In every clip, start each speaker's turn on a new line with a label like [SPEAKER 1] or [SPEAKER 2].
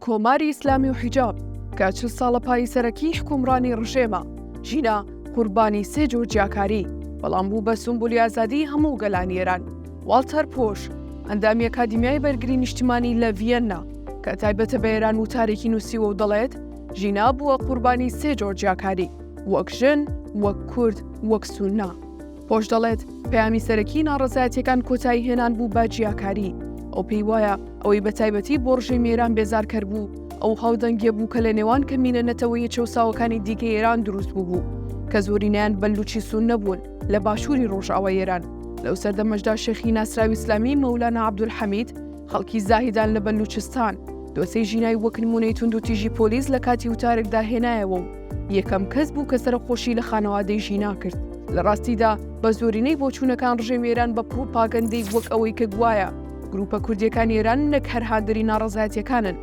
[SPEAKER 1] کۆماری ئیسلامی و حیجاب کە چل ساڵە پایی سەرەکی حکومڕانی ڕژێمە ژینا قوربانی سێ جۆر جیاکاری بەڵام بوو بە سومبولی ئازادی هەموو گەلانی ئێران واڵتەر پۆش ئەندامی ئەکادیمیای بەرگری نیشتیمانی لە ڤیەننا کە تایبەتە بە ئێران وتارێکی نووسیوە و دەڵێت ژینا بووە قوربانی سێ جۆر جیاکاری وەک ژن وەک کورد وەک سوننا پۆش دەڵێت پەیامی سەرەکی ناڕزایەتەکان کۆتایی هێنان بوو بە جیاکاری ئەو پێی وایە ئەوەی بە تایبەتی بۆ ڕژی میران بێزارکەر بوو ئەو هاودەنگێ بوو کە لە نێوان کەمینە نەتەوەیە چەساوەکانی دیکە ئێران دروست بوو کە زۆرینیان بەلوچی سون نەبوون لە باشووری ڕۆژاوای ئێران لەو سەردەمەشدا شێخی ناسراوی ئسلامی مەولانە عبدولحەمید خەڵکی زاهیدان لە بەلوچستان دۆسەی ژینای وەکنمونەی تونند و تیژی پۆلیس لە کاتی وتارێکدا هێنایەوە و یەکەم کەس بوو کە سەرەخۆشی لە خانەوادەی ژینا کرد لە ڕاستیدا بە زۆرینەی بۆچوونەکان ڕژێم ئێران بە پڕوپاگەندەی وەک ئەوەی کە گوایە گروپە کوردیەکان ئێران نەک هەر هاندەری ناڕزایەتەکانن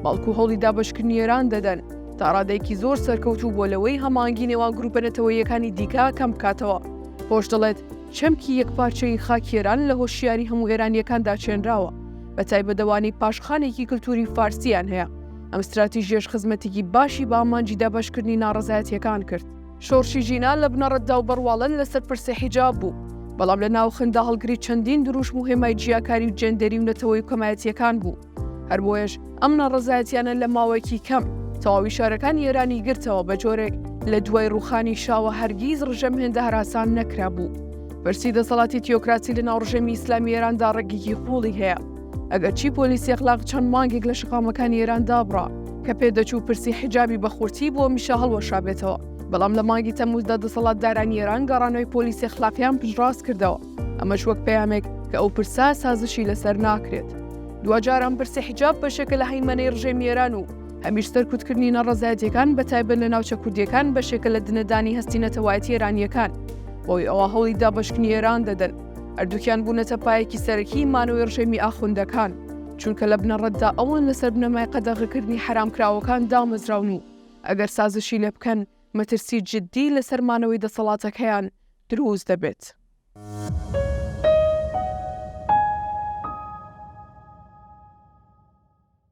[SPEAKER 1] بەڵکو هەوڵی دابشکردنی ئێران دەدەن تا ڕادێکی زۆر سەرکەوت و بۆ لەوەی هەمانگی نێوان گروپە نەتەوەیەکانی دیکە کەم بکاتەوە خۆش دەڵێت چەمکی یەک پارچەی خاکێران لە هۆشیاری هەموو ئێرانیەکان داچێنراوە بە تایبەدەوانی پاشخانێکی کللتوری فارسییان هەیە ئەم ستراتیژیەش خزمەتیکی باشی بە ئامانجی دابەشکردنی ناڕەزایەتیەکان کرد. شۆڕشی ژینا لە بنەڕەتدا و بەڕواڵەت لەسەر پرسی حیجاب بوو، بەڵام لە ناوخندا هەڵگری چەندین دروشم و هێمای جیاکاری و جێندەری و نەتەوەی و کەمایەتیەکان بوو. هەربۆیەش ئەم ناڕەزایەتیانە لە ماوەیەکی کەم تەواوی شارەکانی ئێرانی گرتەوە بە جۆرێک لە دوای ڕوخانی شاوە هەرگیز ڕژێم هێندە هەراسان نەکرابوو. پرسی دەسەڵاتی تیۆکراسی لە ناو ڕژێمی ئیسلامی ئێراندا ڕەگێکی قوڵی هەیە. ئەگەرچی پۆلیسی ئەخلاق چەند مانگێک لە شەقامەکانی ئێران دابڕا کە پێدەچوو پرسی حیجابی بە خورتی بۆ میشە هەڵوەشابێتەوە بەڵام لە مانگی تەموزدا دەسەڵات دارانی ئێران گەڕانەوەی پۆلیسی خلاقیان پشڕاست کردەوە ئەمەش وەک پەیامێک کە ئەو پرسا سازشی لەسەر ناکرێت دوجاران پرسی حیجاب بەشێکە لە هەیمەەی ڕژێمی ئێران و هەمیش سەرکوتکردنی نەڕزایەتەکان بە تایبەت لە ناوچە کوردیەکان بەشێکە لە دنەدانی هەستی نەتەوایەتی ئێرانیەکان بۆی ئەوە هەوڵی دابشکنی ئێران دەدەن هەردووکیان بوونەتە پایەکی سەرەکی مانەوەی ڕژێمی ئاخوندەکان، چونکە لە بنەڕەتدا ئەوان لەسەر بنەمای قەدەغەکردنی حەرامکراوەکان دامەزراون و ئەگەر سازشی لێ بکەن مەترسی جددی لەسەر مانەوەی دەسەڵاتەکەیان دروست دەبێت.